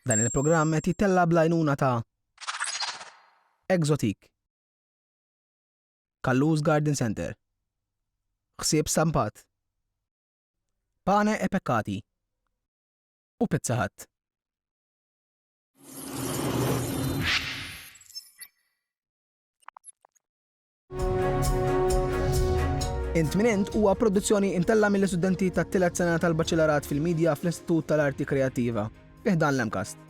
Dan il-programm qed jittella' bl-għajnuna ta' Exotic, Kallus Garden Centre, Ħsieb Stampat, Pane e Peccati u Pizza Hut. Intminent huwa produzzjoni imtella mill-istudenti tat-tielet sena tal-Baċelarat fil-Media fl-Istitut tal-Arti Kreattiva, fi ħdan l-MCAST.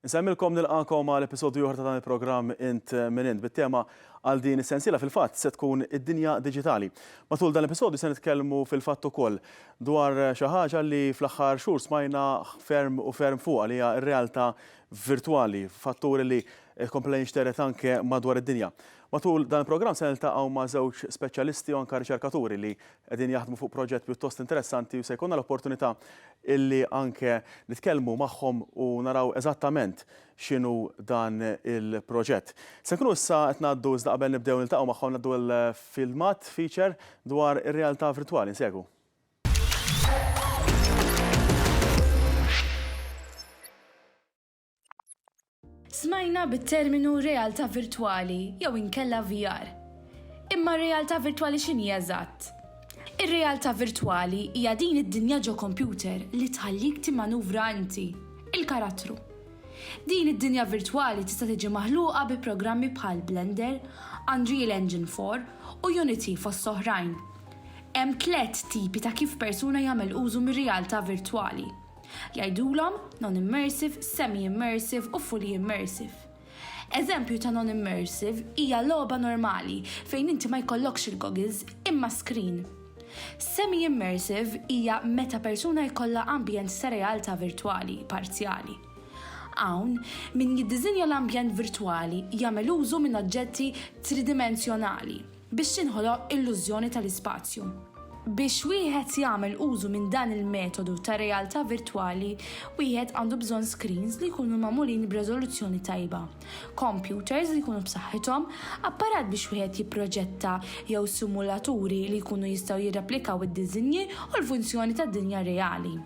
Insemmilkom nilqagħkom għal episodju ieħor ta' dan il-programm Int Min Int bit-tema għal din is-sensiela fil-fatt se tkun id-dinja diġitali. Matul dan l-episodju se nitkellmu fil-fatt ukoll dwar xi ħaġa li fl-aħħar xhur smajna ferm u ferm fuqha li hija r-realtà virtwali, fattur li kompla jinxtered anke madwar id-dinja. Matul dan il-programm se niltaqgħu ma' żewġ speċjalisti u anke riċerkaturi li Qegħdin jaħdmu fuq proġett pjuttost interessanti u se jkollna l-opportunità illi anke nitkellmu magħhom u naraw eżattament x'inhu dan il-proġett. Se nkunu issa qed ngħaddu iżda qabel nibdew niltaqgħu magħhom ngħaddu għal filmat feature dwar ir-realtà virtwali. Nsegwu. Smajna bit-terminu realtà virtwali jew inkella VR. Imma r-realtà virtwali x'inhi eżatt? Ir-realtà virtwali hija din id-dinja ġo kompjuter li tħallik timmanuvra inti, il-karattru. Din id-dinja virtwali tista' tiġi maħluqa bi programmi bħal Blender, Unreal Engine 4 u Unity fost oħrajn. Hemm tliet tipi ta' kif persuna jagħmel użu mir-realtà virtwali. Jgħidulhom non-immersive, semi-immersive u fully immersive. Eżempju ta' non-immersive hija logħba normali fejn inti ma jkollokx il-goggles imma screen. Semi-immersive hija meta persuna jkollha ambjent ta' realtà virtwali parzjali. Hawn, min jiddiżinja l-ambjent virtwali jagħmel użu minn oġġetti tridimensjonali. biex tinħoloq illużjoni tal-ispazju. Biex wieħed jagħmel użu minn dan il-metodu ta' realtà virtwali, wieħed għandu bżonn screens li jkunu magħmulin b'reżoluzzjoni tajba, kompjuters li jkunu b'saħħithom, apparat biex wieħed jipproġetta jew simulaturi li jkunu jistgħu jirreplikaw id-diżinji u l-funzjoni tad-dinja reali.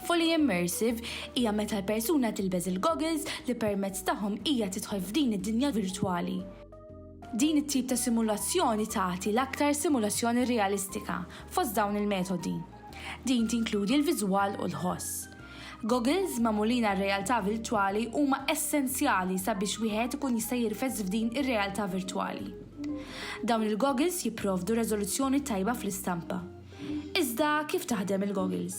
Fully immersive hija meta l-persuna tilbeż il-goggles li permezz tagħhom hija tidħol f'din id-dinja virtwali. Din it-tip ta' simulazzjoni tagħti l-aktar simulazzjoni realistika fost dawn il-metodi. Din tinkludi l-viżwal u l-ħoss. Goggles magħmulin għar-realtà virtwali huma essenzjali sabiex wieħed ikun jista' jirfes f'din ir-realtà virtwali. Dawn il-goggles jipprovdu reżoluzzjoni tajba fl-istampa. Iżda kif taħdem il-goggles?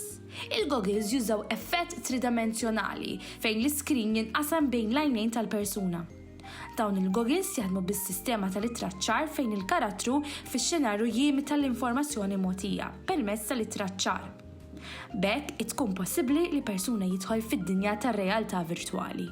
Il-goggles jużaw effett tridimensjonali fejn l-iskrin jinqasam bejn l-għajnejn tal-persuna. Dawn il-goggles jaħdmu bis-sistema tal-ittraċċar fejn il-karattru fix-xenarju jimita l-informazzjoni mogħtija permezz tal-ittraċċar. B'hekk tkun possibbli li persuna jidħol fid-dinja tar-realtà virtwali.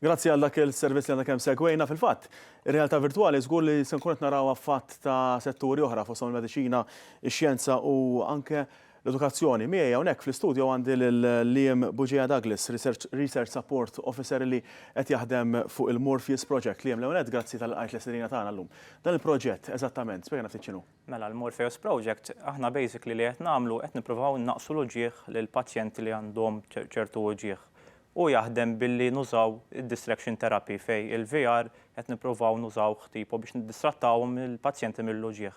Grazzi għal dak il-servizz li għandna kemm segwejna fil-fatt. Ir-realtà virtwali żgur li se nkun qed naraw affatt ta' setturi oħra fost il-mediċina, ix-xjenza u anke l-edukazzjoni. Miegħi hawnhekk fl-istudju għandi lil Liam Buġeja Douglas, Research Support Officer li qed jaħdem fuq il-Morpheus Project. Liam Leonet, grazzi tal-qajt l-istedina tagħna llum. Dan il-proġett eżattament, spjegħna ftit x'inhu. Mela l-Morpheus Project aħna basically li qed nagħmlu qed nippruvaw innaqqsu l-uġigħ lil pazjenti li għandhom ċertu uġigħ. Hu jaħdem billi nużaw id-distraction therapy fejn il-VR qed nippruvaw nużawh tipo biex niddistrattawhom il-pazjenti mill-uġigħ.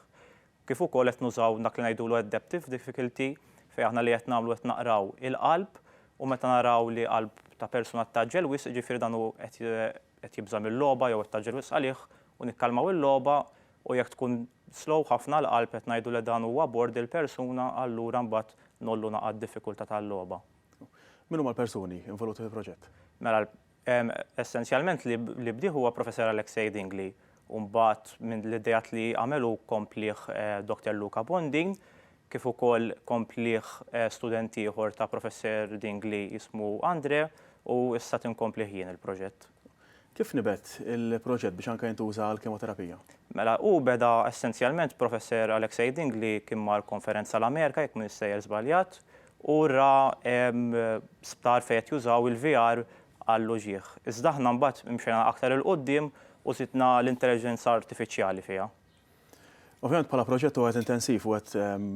Kif ukoll qed nużaw dak li ngħidulu adaptive difficulty fejn aħna li qed nagħmlu qed naqraw il-qalb u meta naraw li qalb ta' persuna ttgħaġġel wisq jiġifieri dan hu qed qed jibża' mil-logħba jew qed tgħaġġel wisq għalih u nikkalmaw il-logħba u jekk tkun slow ħafna l-qalb qed ngħidu li dan huwa bord il-persuna allura mbagħad ngħollu naqgħa d-diffikultà tal-logħba. Min huma l-persuni involuti fil-proġett? Mela essenzjalment li bdieh huwa Professor Alexei Dingli u mbagħad minn l-ideat li għamel hu komplieh Doctor Luca Bondin kif ukoll komplieh student ieħor ta' Professor Dingli jismu Andre u issa qed inkomplieh jien il-proġett. Kif nibet il-proġett biex anke jintuża għall-kemoterapija? Mela, hu beda essenzjalment Professer Alexei Ding li kien mar konferenza l-Amerika, jekk m'iniex sejjer żbaljat, u ra sptar fejn qed jużaw il-VR għall-uġigħ. Iżda aħna mbagħad imxejna aktar 'il quddiem u żidna l-intelliġenza artifiċjali fiha. Ovvjament bħala proġett huwa wieħed intensiv, wieħed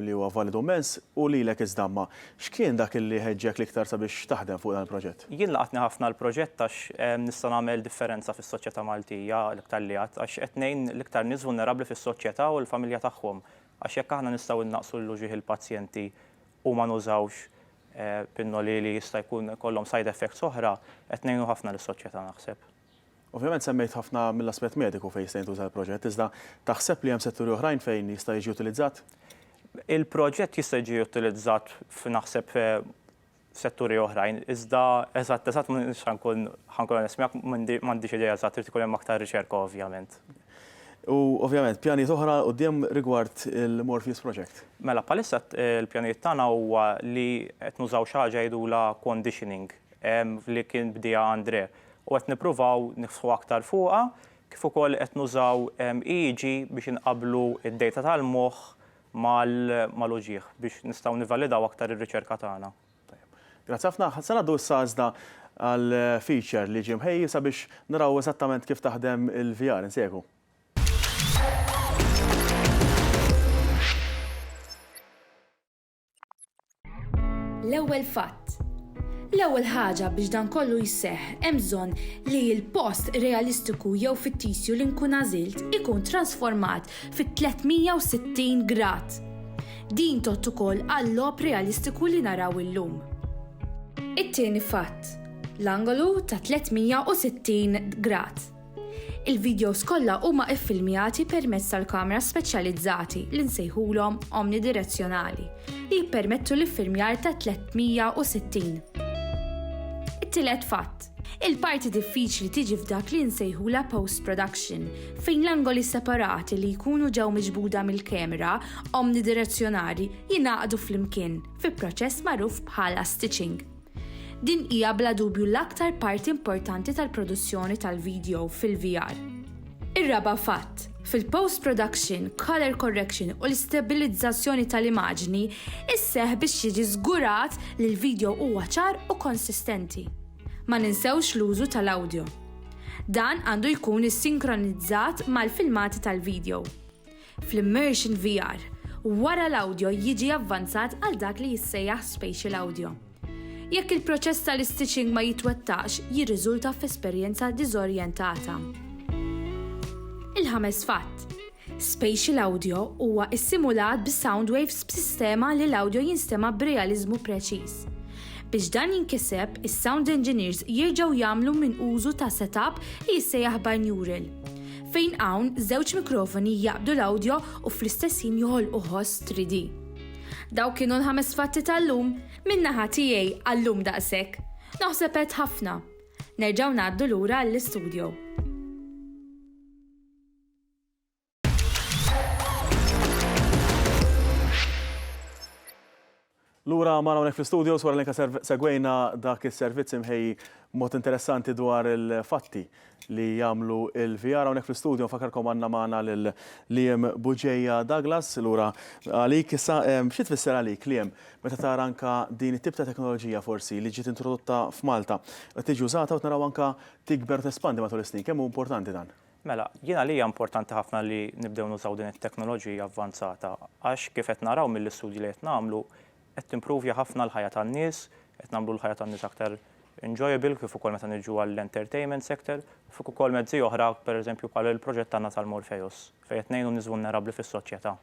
li huwa validu mmens, u lilek iż-żdamma. X'kien dak li ħeġġek l-iktar sabiex taħdem fuq dan il-proġett? Jien laqatni ħafna l-proġett għax nista' nagħmel differenza fis-soċjetà Maltija l-iktar li għad, għax qed ngħin l-iktar nies vulnerabbli fis-soċjetà u l-familja tagħhom. Għax jekk aħna nistgħu innaqqsu l-uġigħ il-pazjenti u ma nużawx pinnoli li jista' jkun ikollhom side effects oħra, qed ngħinu ħafna lis-soċjetà naħseb. Ovvjament semmejt ħafna mill-aspett mediku fejn jista' jintuża l-proġett, iżda taħseb li hemm setturi oħrajn fejn jista' jiġi utilizzat? Il-proġett jista' jiġi utilizzat naħseb f'setturi oħrajn, iżda eżatt eżatt ma nista' nkun ħa nkun onest miegħek, m'għandix idea eżatt, irid ikun hemm aktar riċerka ovvjament. U ovvjament, pjanijiet oħra għal quddiem rigward il-Morpheus Project? Mela, bħalissa l-pjanijiet tagħna huwa li qed nużaw xi ħaġa jgħidulha conditioning li kien bdieha André. u qed nippruvaw niftħu aktar fuqha, kif ukoll qed nużaw EEG biex inqabblu d-dejta tal-moħħ mal-uġigħ biex nistgħu nivvalidaw aktar ir-riċerka tagħna. Tajjeb. Grazzi ħafna. Se ngħaddu issa iżda għal feature li ġie mħejji sabiex naraw eżattament kif taħdem il-VR. Insegwu. L-ewwel fatt. L-ewwel ħaġa biex dan kollu jseħħ hemm bżonn li l-post realistiku jew fittisju li nkun għażilt ikun trasformat fit-360 grad. Din tot ukoll għall-lob realistiku li naraw illum. It-tieni fatt. L-angolu ta' 360 grad. Il-videos kollha huma iffilmjati permezz tal-kamra speċjalizzati li nsejħulhom omnidirezzjonali li jippermettu l-iffilmjar ta' 360. It-tielet fatt. Il-parti diffiċli tiġi f'dak li nsejħulha post-production, fejn l-angoli separati li jkunu ġew miġbuda mill-kamera omnidirezzjonali jingħaqdu flimkien fi proċess magħruf bħala stitching. Din hija bla dubju l-aktar parti importanti tal-produzzjoni tal-vidjow fil-VR. Ir-raba' fatt, fil-post production, color correction u l-istabilizzazzjoni tal-imagini sseħħ biex jiġi żgurat li l-vidjow huwa ċar u konsistenti. Ma ninsewx l-użu tal-awdjo. Dan għandu jkun issinkronizat mal-filmati tal-vidjow. fl-immersion VR, wara l-awdjo jiġi avvanzat għal dak li jissejjaħ spatial audio. Jekk il-proċess tal-istitching ma jitwettaqx, jirriżulta f'esperjenza diżorjentata. Il-ħames fatt, Spatial audio huwa issimulat bi sound waves b'sistema li l-awdjo jinstema' b'realiżmu preċiż. Biex dan jinkiseb, is-sound engineers jerġgħu jagħmlu minn użu ta' set-up li jissejjaħ bineural. fejn hawn żewġ mikrofoni jaqbdu l-awdjo u fl-istess ħin joħolqu ħoss 3D. Dawk kienu l-ħames fatti tal-lum, min-naħa tiegħi għal-lum daqshekk. Naħseb għedt ħafna. Nerġgħu ngħaddu lura għall-istudjo. Lura magħna hawnhekk fl-istudios wara li anke segwejna dak is-servizz imħejji b'mod interessanti dwar il-fatti li jagħmlu l-VR. Hawnhekk fl-istudio nfakkarkom għandna magħna lil Liam Bugeja Douglas. Lura għalik issa xi tfisser għalik Liam meta tara anke din it-tip ta' teknoloġija forsi li ġiet introdotta f'Malta qed tiġi użata u tnaraw anke tikber u tespandi matul is-snin. Kemm hu importanti dan? Mela, jien għalija importanti ħafna li nibdew nużaw din it-teknoloġija avvanzata għax kif qed naraw mill-istudji li qed nagħmlu qed timprovja ħafna l-ħajja tan-nies, qed nagħmlu l-ħajja tan-nies aktar enjoyable kif ukoll meta niġu għall-entertainment sector, fik ukoll mezzi oħra pereżempju bħal il-proġett tagħna tal-Morpheus fejn qed ngħinu n-nies vulnerabbli fis-soċjetà.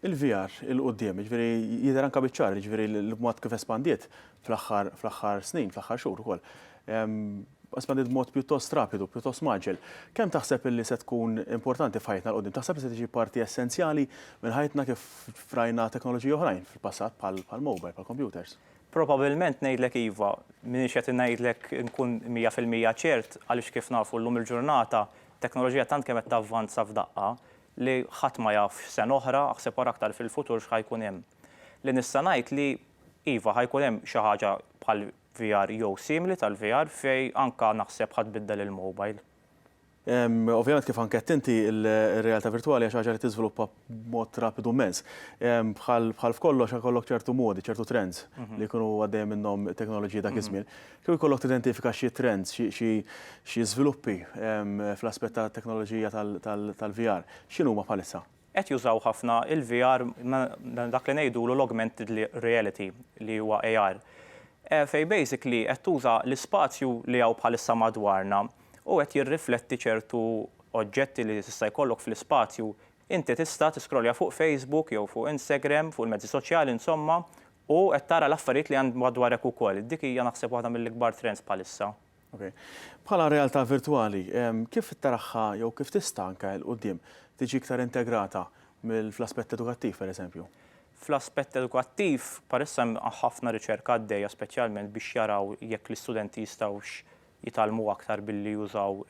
il-VR 'il quddiem, jiġifieri jidher anke biċ-ċar, jiġifieri l-mod kif espandiet fl-aħħar fl-aħħar snin, fl-aħħar xhur ukoll. Espandiet b'mod pjuttost rapidu, pjuttost mgħaġġel. Kemm taħseb illi se tkun importanti f'ħajjitna 'l quddiem? Taħseb li se tiġi parti essenzjali minn ħajjitna kif rajna teknoloġiji oħrajn fil-passat bħall-mobile, bħall-kompjuters? Probabilment ngħidlek iva. M'iniex qed ngħidlek inkun mija fil-mija ċert għaliex kif nafu llum il-ġurnata t-teknoloġija tant kemm qed tavvanza f'daqqa li ħadd ma jaf x'sena oħra, aħseb ara aktar fil-futur x'ħa jkun hemm. Li nista' ngħid li, iva, ħa jkun hemm xi ħaġa bħal VR jew simili tal-VR fejn anke naħseb ħa tbiddel il-mobile. Ovvjament kif anke għedt inti, ir-realtà virtwali hija xi ħaġa li tiżviluppa b'mod rapidu mmens. Bħal f'kollox ikollok ċertu modi, ċertu trends li jkunu għaddejja minnhom it-teknoloġiji dak iż-żmien. Kieku jkollok tidentifika xi trends, xi xi xi żviluppi fl-aspett tat-teknoloġija tal tal-VR, x'inhuma bħalissa? Qed jużaw ħafna il-VR ma' dak li ngħidulu l-augmented reality li huwa AR. Fejn basically qed tuża l-ispazju li hawn bħalissa madwarna u qed jirrifletti ċertu oġġetti li tista' jkollok fl-ispazju Inti tista' tiskrollja fuq Facebook jew fuq Instagram, fuq il-mezzi soċjali insomma, u qed tara l-affarijiet li hemm madwarek ukoll. Dik hija naħseb waħda mill-ikbar trends bħalissa. Ok. Bħala realtà virtwali, kif taraha jew kif tista' anke 'l quddiem tiġi iktar integrata fl-aspett edukattiv pereżempju? Fl-aspett edukattiv, bħalissa hemm ħafna riċerka għaddejja speċjalment biex jaraw jekk l-istudenti jistgħux jitgħallmu aktar billi jużaw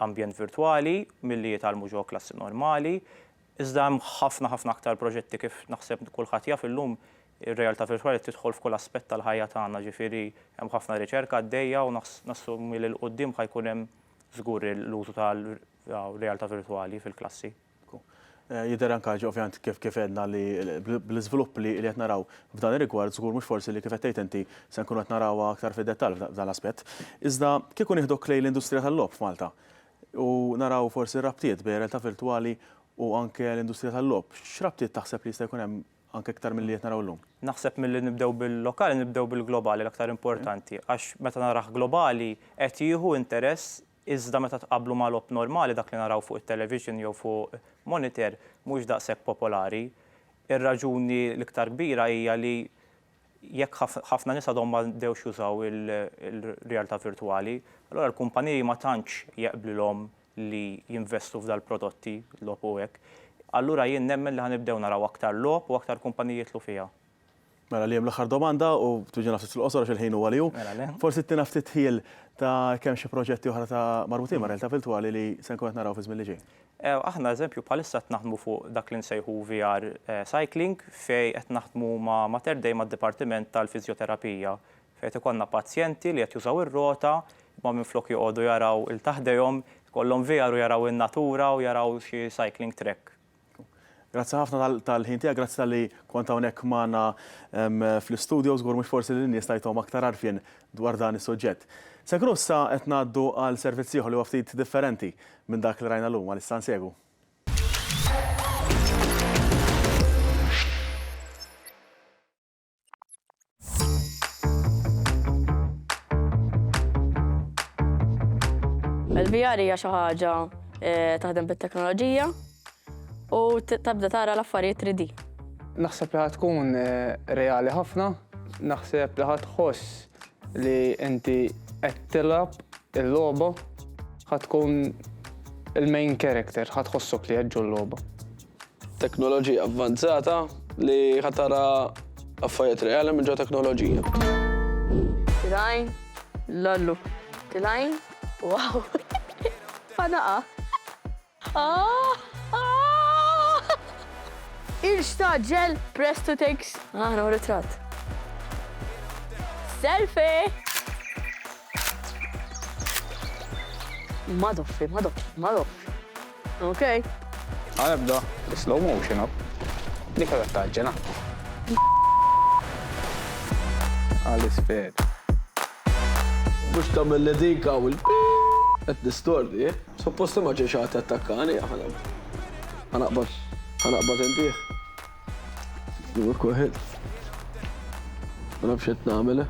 ambjent virtwali milli jitgħallmu ġewwa klassi normali, iżda hemm ħafna ħafna aktar proġetti kif naħseb kulħadd jaf illum ir-realtà virtwali qed tidħol f'kull aspett tal-ħajja tagħna, ġifieri hemm ħafna riċerka għaddejja u nassumi li 'l quddiem ħa jkun hemm żgur l-użu tal-realtà virtwali fil-klassi. Jidher anke ħaġa ovvjament kif kif għedna li bl-iżvilupp li qed naraw f'dan ir-rigward żgur mhux forsi li kif qed tgħid inti se nkunu qed narawha aktar fid-dettall f'dan l-aspett. Iżda kieku nieħduk lejn l-industrija tal-logħob f'Malta u naraw forsi r-rabtiet bejn realtà virtwali u anke l-industrija tal-logħob, x'rabtiet taħseb li jista' jkun hemm anke iktar milli qed naraw illum? Naħseb milli nibdew bil-lokali nibdew bil-globali l-aktar importanti għax meta narah globali qed jieħu interess Iżda meta tqabblu ma' logħob normali, dak li naraw fuq it-television jew fuq moniter, mhux daqshekk popolari. Ir-raġuni l-iktar kbira hija li jekk ħafna nies għadhom ma bdewx jużaw il-realtà virtwali, allura l-kumpaniji ma tantx jeqblilhom li jinvestu f'dal-prodotti, logħob u hekk. Allura jien nemmen li ħa nibdew naraw aktar logħob u aktar kumpaniji jidħlu fiha. Mela Liam l-aħħar domanda u twiġġina ftit fil-qosor għax il-ħin huwa li hu. Mela le. Forsi ttina ftit ħjiel ta' kemm xi proġetti oħra ta' marbutin ma' realtà virtwali li se nkun qed naraw fiż-żmien li ġej. Aħna eżempju bħalissa qed naħdmu fuq dak li nsejħu VR Cycling fejn qed naħdmu ma' Mater Dei mad-dipartiment tal-fiżjoterapija fejn qed ikollna pazjenti li qed jużaw ir-rota imma minflok joqogħdu jaraw 'il taħdejhom ikollhom VR u jaraw in-natura u jaraw xi cycling track. Grazzi ħafna tal-ħin tiegħek, grazzi tal-li kont hawnhekk magħna fl-istudio, żgur mhux forsi li n-nies tajthom aktar għarfien dwar dan is-suġġett. Segru issa qed ngħaddu għal servizz ieħor li huwa ftit differenti minn dak li rajna llum, għalissa nsegwu. Il-VR hija xi ħaġa eh, taħdem bit-teknoloġija u tabda tara l-affarijiet 3D. Naħseb li tkun eh, reali ħafna, naħseb li ħoss li inti qed tilab il-logħba ħatkun il-main character, ħatħossok li qed l-logħba. Teknoloġija avvanzata li ħa tara affarijiet reali minn ġo teknoloġija. Tilgħin, lallu. Tilgħin, wow. Fanaqa. Ah! Ah! Ilx taġġel, press to takes. Ah, no ritratt. Selfie! Madoffi, madoffi, madoffi. Ok. Għal ebda. Slow motion up. Dik għadha taġġel ha. Għal isfel. Mhux tagħmilli dik hawn il qed nistordi. Eh? Suppost ma ġejx ħadd attakkani aħna. Ħanaqbad ħanaqbad intih. Kuħed. Ma nafx qed nagħmel. Eh?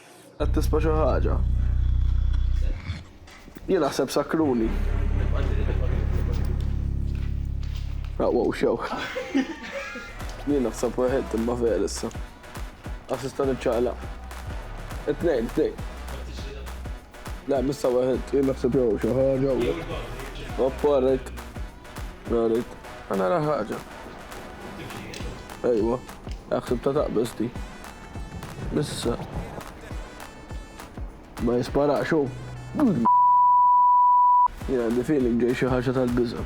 Qed tisma' xi ħaġa? Jien naħseb sakkruni. Aqwaw xew. Jien naħseb weħed imma vera issa. Għax issa niċċaqlaq. It-tnejn, it-tnejn. Le, missa weħed. Jien naħseb jew xi ħaġa. Oppa, rajt. Rajt. Għana raħħaġa. Ejwa, għaxib ta' taqbesti. Issa. Ma jisparax hu. Jien għandi feeling ġej xi ħaġa tal-biża.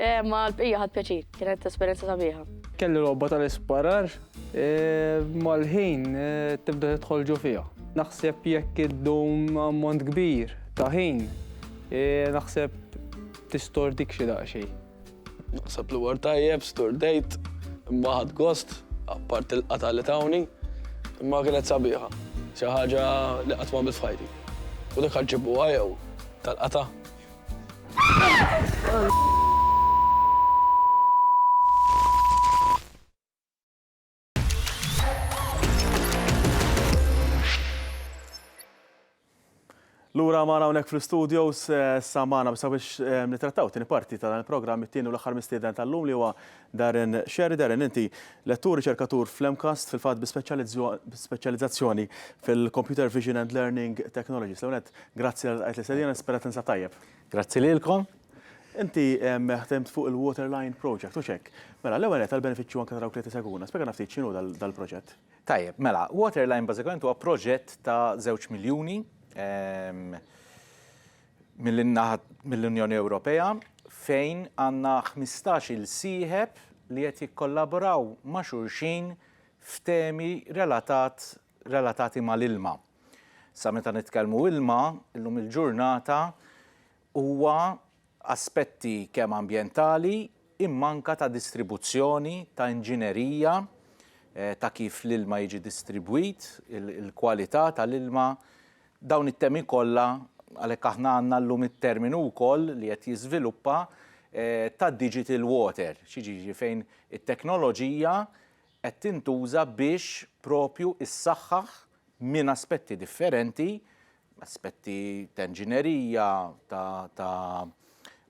Ma l-bqija ħadd pjaċir, kienet esperjenza sabiħa. Kelli logħba tal-isparar, mal-ħin tibda tidħol ġo fiha. Naħseb jekk iddum ammont kbir ta' ħin, naħseb tistordik xi daqsxejn. Naħseb li war tajjeb, stordejt, imma ħadd gost, apart il-qata li tawni, imma kienet sabiħa. Xi ħaġa li qatt ma f'ħajti. U dik ħaġġibu għajew tal-qata. Lura maħna unek fl-studios eh, samana sabiex eh, nitrattaw tini parti ta' dan il-program it-tieni u l-axar mistieden tal-lum li huwa Darren Scerri, Darren, inti lettur, riċerkatur fl-MCAST, fil-fatt bi speċjalizzazzjoni fil-Computer Vision and Learning Technologies. L-ewwel nett, grazzi tal-li lqajt l-istedina, nispera tinsab tajjeb. Grazzi lilkom. Inti ħdimt fuq il-Waterline Project, hux hekk? Mela, l-ewwel nett, għall-benefiċċju anke ta' dawk li qed isegwuna, spjegana ftit x'inhu dal-proġett. Tajjeb, mela, Waterline bażikament huwa proġett ta' żewġ miljuni. mill-naħa mill-Unjoni Ewropea fejn għandna ħmistax il-sieħeb li qed jikkollaboraw ma' xulxin f'temi relatat relatati mal-ilma. Sa meta nitkellmu ilma, illum il-ġurnata huwa aspetti kemm ambjentali imma anke ta' distribuzzjoni, ta' inġinerija, eh, ta' kif l-ilma jiġi distribwit, il-kwalità tal-ilma, Dawn it-temi kollha, għalhekk aħna għandna llum it-terminu wkoll li qed jiżviluppa ta' digital water, xi jiġifieri fejn it-teknoloġija qed tintuża biex propju ssaħħaħ minn aspetti differenti, aspetti ta' inġinerija, ta'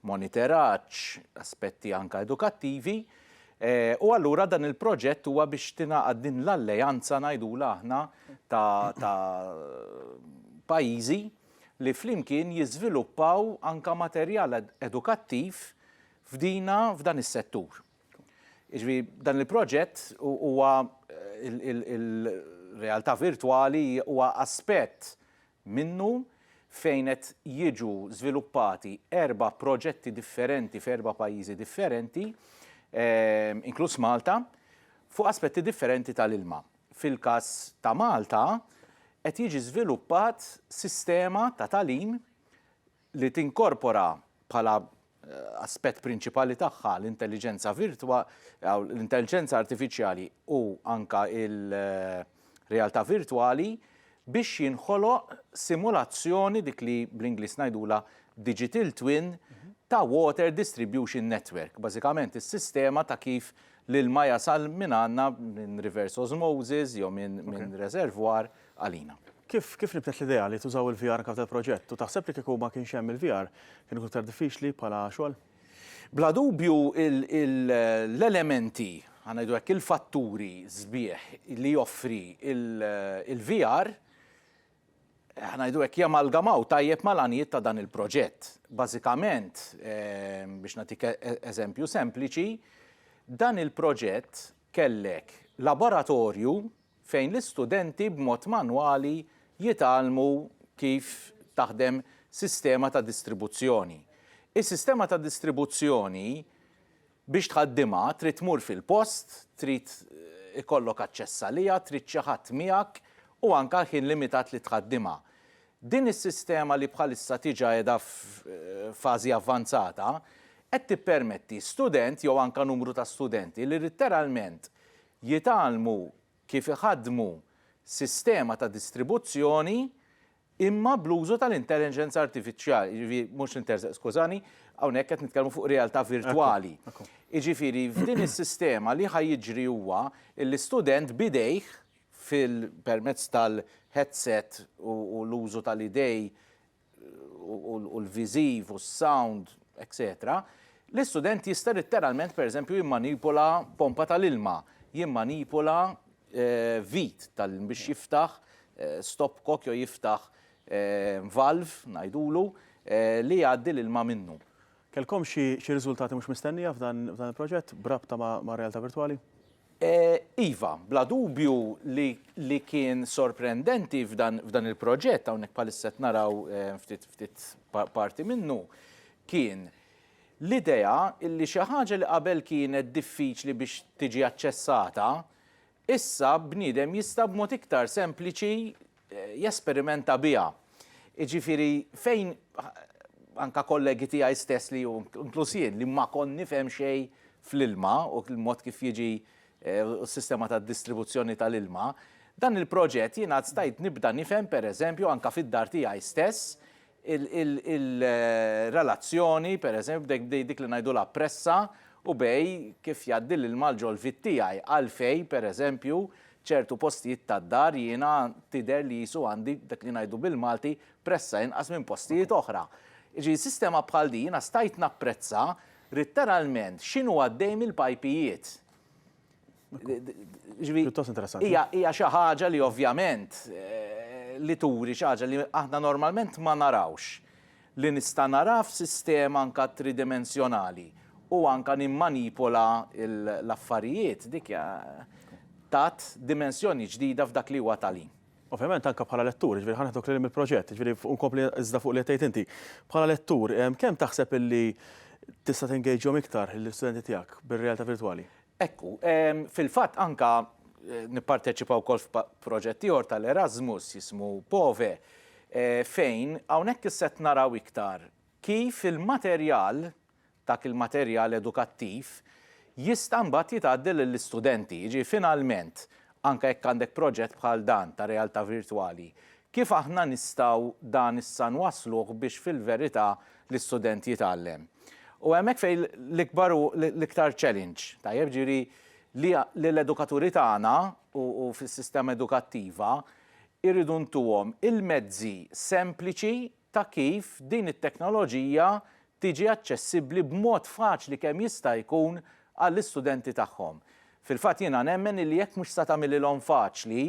moniteraġġ, aspetti anke edukattivi, u allura dan il-proġett huwa biex tingħaqad din l-alleanza ngħidulha aħna ta' ta' pajjiżi li flimkien jiżviluppaw anke materjal edukattiv f'dina f'dan is-settur. Jiġifieri dan il-proġett huwa il-realtà virtwali huwa aspett minnu, fejn qed jiġu żviluppati erba' proġetti differenti f'erba' pajjiżi differenti, inkluż Malta, fuq aspetti differenti tal-ilma. Fil-każ ta' Malta, qed jiġi żviluppat sistema ta' tagħlim, li tinkorpora bħala aspett prinċipali tagħha l-intelliġenza virtwa, l-intelġenza artifiċjali u anke il-realtà virtwali biex jinħoloq simulazzjoni, dik li bl-Ingliż ngħidulha digital twin, ta' water distribution network, bażikament is-sistema ta' kif l-ilma jasal mingħandna minn reverse osmosis jew minn reservoir, għalina. Kif kif nibtet l-idea li tużaw il-VR anke f'dal proġett u taħseb li kieku ma kienx hemm il-VR kien ikun iktar diffiċli bħala xogħol? Bla dubju l-elementi, ħa ngħidu hekk, il-fatturi sbieħ li joffri il-VR, ħa ngħidu hekk, jamalgamaw tajjeb mal-għanijiet ta' dan il-proġett. Bażikament, biex nagħtik eżempju sempliċi, dan il-proġett kellek laboratorju fejn l-istudenti b'mod manwali jitgħallmu kif taħdem sistema ta' distribuzzjoni. Is-sistema ta' distribuzzjoni biex tħaddimha trid tmur fil-post, trid ikollok aċċess għaliha, trid xi ħadd miegħek u anke l-ħin limitat li tħaddimha. Din is-sistema li bħalissa tiġa qiegħda f'fażi avvanzata qed tippermetti student jew anke numru ta' studenti li litteralment jitgħallmu kif iħaddmu sistema ta' distribuzzjoni imma bl-użu tal-intelligence artifiċjali, jiġifieri mhux l-intelligence, skużani, hawnhekk qed nitkellmu fuq realtà virtwali. Jiġifieri f'din is-sistema li ħa jiġri huwa li student b'idejh fil-, permezz tal-headset u l-użu tal-idej, u l-viżiv u s-sound, etc. L-istudent jista' litteralment pereżempju jimmanipola pompa tal-ilma, jimmanipola vit tal biex jiftaħ stop cock jew jiftaħ valve ngħidulu li jgħaddi l-ilma minnu. Kellkom xi riżultati mhux mistennija f'dan il-proġett b'rabta mar-realtà virtwali? Iva, bla dubju li kien sorprendenti f'dan il-proġett, hawnhekk bħalissa qed naraw ftit parti minnu, kien l-idea li xi ħaġa li qabel kienet diffiċli biex tiġi aċċessata, Issa bniedem jista' b'mod iktar sempliċi jesperimenta biha. Jiġifieri fejn anke kollegi tiegħi stess li u inkluż jien li ma kont nifhem xejn fl-ilma u l-mod kif jiġi u s-sistema tad-distribuzzjoni tal-ilma, dan il-proġett jiena stajt nibda nifhem pereżempju anke fid-dar tiegħi stess il-relazzjoni, per eżempju, bdej dik li ngħidulha pressa u bej kif jgħaddi l-ilma l-ġolfiet tiegħi, għalfejn, per eżempju, ċertu postijiet tad-dar jiena tidher li qisu għandi dak li ngħidu bil-Malti pressa inqas minn postijiet oħra. Jiġifieri sistema bħal din jiena stajt napprezza ritteralment x'inhu għaddej mill-pajpijiet. Pjuttost interessanti. Hija hija xi ħaġa li ovvjament eh, li turi xi ħaġa li aħna normalment ma narawx li nista' nara f'sistema anka tridimensjonali u anka nimmanipola l-affarijiet dik tat dimensjoni ġdida f'dak li huwa talim. Ovvjament anke bħala lettur, jiġifieri ħa neħduk lil hemm il-proġett, jiġifieri u nkompli iżda fuq li qed tgħid inti. Bħala lettur, kemm taħseb illi tista' tingejġhom iktar l-istudenti tiegħek bir-realtà virtwali? Ekku, fil-fatt anke nipparteċipa wkoll f'proġett ieħor tal-Erasmus jismu POVE, fejn hawnhekk issa qed naraw iktar kif il-materjal dak il-materjal edukattiv jista' mbagħad jitgħaddi lill-istudenti. Jiġifieri finalment, anke jekk għandek proġett bħal dan ta' realtà virtwali, kif aħna nistgħu dan issa nwassluh biex fil-verità l-istudent jitgħallem? U hemmhekk fejn l-ikbar u l-iktar challenge, tajjeb, jiġifieri li li l-edukaturi tagħna u u fis-sistema edukattiva irridu ntuhom il-mezzi sempliċi ta' kif din it-teknoloġija tiġi aċċessibbli b'mod faċli kemm jista' jkun għall-istudenti tagħhom. Fil-fatt jiena nemmen illi jekk mhux se tagħmililhom faċli,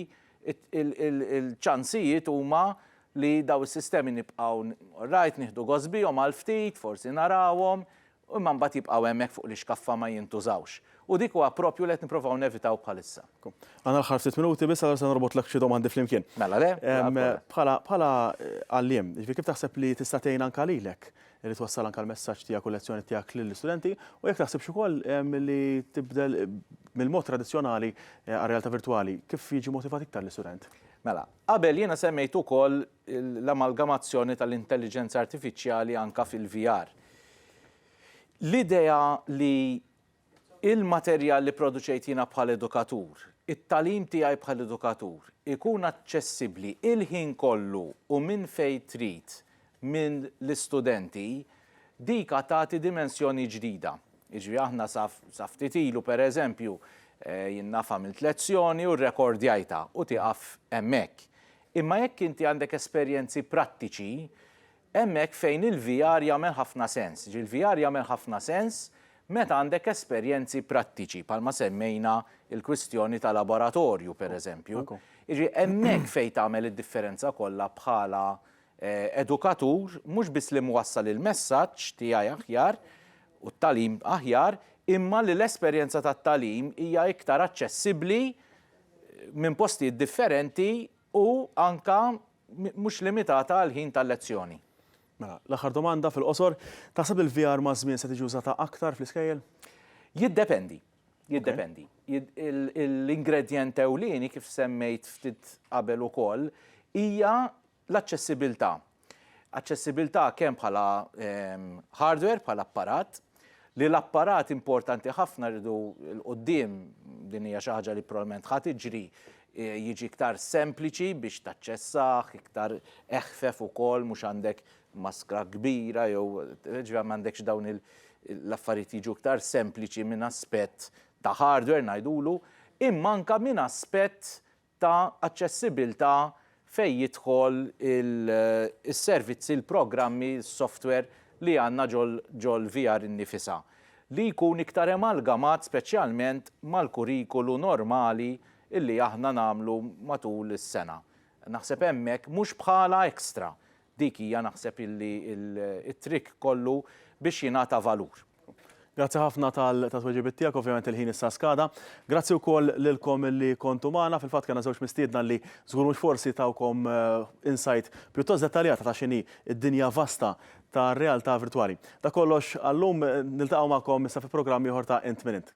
il-ċansijiet huma li dawn is-sistemi nibqgħu, orrajt, nieħdu gost bihom għal ftit, forsi narawhom, u imma mbagħad jibqgħu hemmhekk fuq l-ixkaffa ma jintużawx. U dik huwa proprju li qed nipprovaw nevitaw bħalissa. Għandna l-aħħar ftit minuti biss allura se norbotlek xi domandi flimkien. Mela le, bla problema. Bħala bħala għalliem, jiġifieri kif taħseb li tista' tgħin anke lilek li twassal anke l-messaġġ tiegħek u l-lezzjoni tiegħek lill-istudenti u jekk taħsibx ukoll li tibdel mill-mod tradizzjonali għar-realtà virtwali, kif jiġi motivat iktar l-istudent? Mela, qabel jiena semmejt ukoll l-amalgamazzjoni tal-intelliġenza artifiċjali anke fil-VR. L-idea li l-materjal li pproduċejt jiena bħala edukatur, it-tagħlim tiegħi bħala edukatur, ikun aċċessibbli l-ħin kollu u minn fejn trid mill-istudenti, dik għad tagħti dimensjoni ġdida. Jiġifieri aħna sa sa ftit ilu pereżempju, jien naf għamilt lezzjoni u rrekordjajtha u tieqaf hemmhekk. Imma jekk inti għandek esperjenzi prattiċi, Hemm hekk fejn il-VR jagħmel ħafna sens. Ġi l-VR jagħmel ħafna sens meta għandek esperjenzi prattiċi bħalma semmejna l-kwistjoni ta' laboratorju pereżempju. Jiġifieri hemmhekk fejn tagħmel id-differenza kollha bħala edukatur mhux biss li mwassal il-messaġġ tiegħi aħjar u t-tagħlim aħjar imma li l-esperjenza tat-tagħlim hija iktar aċċessibbli minn postijiet differenti u anke mhux limitata għall-ħin tal-lezzjoni. Mela, l-aħħar domanda fil-qosor, taħseb li l-VR maż-żmien se tiġi użata aktar fl-iskejjel? Jiddependi. Jiddependi. L-ingredjent ewlieni kif semmejt ftit qabel ukoll hija l-aċċessibilità. Aċċessibilità kemm bħala ehm, hardware, bħala apparat, li l-apparat importanti ħafna rridu 'l quddiem, din hija xi ħaġa li probabbilment ħa tiġri, jiġi iktar sempliċi biex taċċessah, iktar eħfef ukoll, mhux għandek maskra kbira jew jiġifieri ma għandekx dawn il- l-affarijiet jiġu iktar sempliċi minn aspett ta' hardware ngħidulu, imma anke minn aspett ta' aċċessibbiltà fejn jidħol is-servizzi, il-programmi, is-software li għandna ġol-VR innifisha, li jkun iktar emalgamat speċjalment mal-kurrikulu normali li aħna nagħmlu matul is-sena. Naħseb hemmhekk mhux bħala extra, Dik hija naħseb illi t-trick kollu biex jingħata valur. Grazzi ħafna tat-tweġibiet tiegħek, ovvjament il-ħin issa skada. Grazzi wkoll lilkom illi kontu magħna, fil-fatt kellna żewġ mistiedna li żgur mhux forsi tawkom insight pjuttost dettaljata ta' x'inhi d-dinja vasta tar-realtà virtwali. Dak kollox għallum, niltaqgħu magħkom issa fi programm ieħor ta' Int Min Int.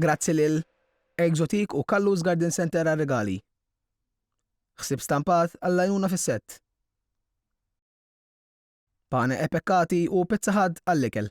Grazzi lil Exotique u Kallu's Garden Centre għar-rigali. Ħsieb stampat għall-għajnuna fis-sett. Pane e Peccati u Pizza Hut għall-ikel.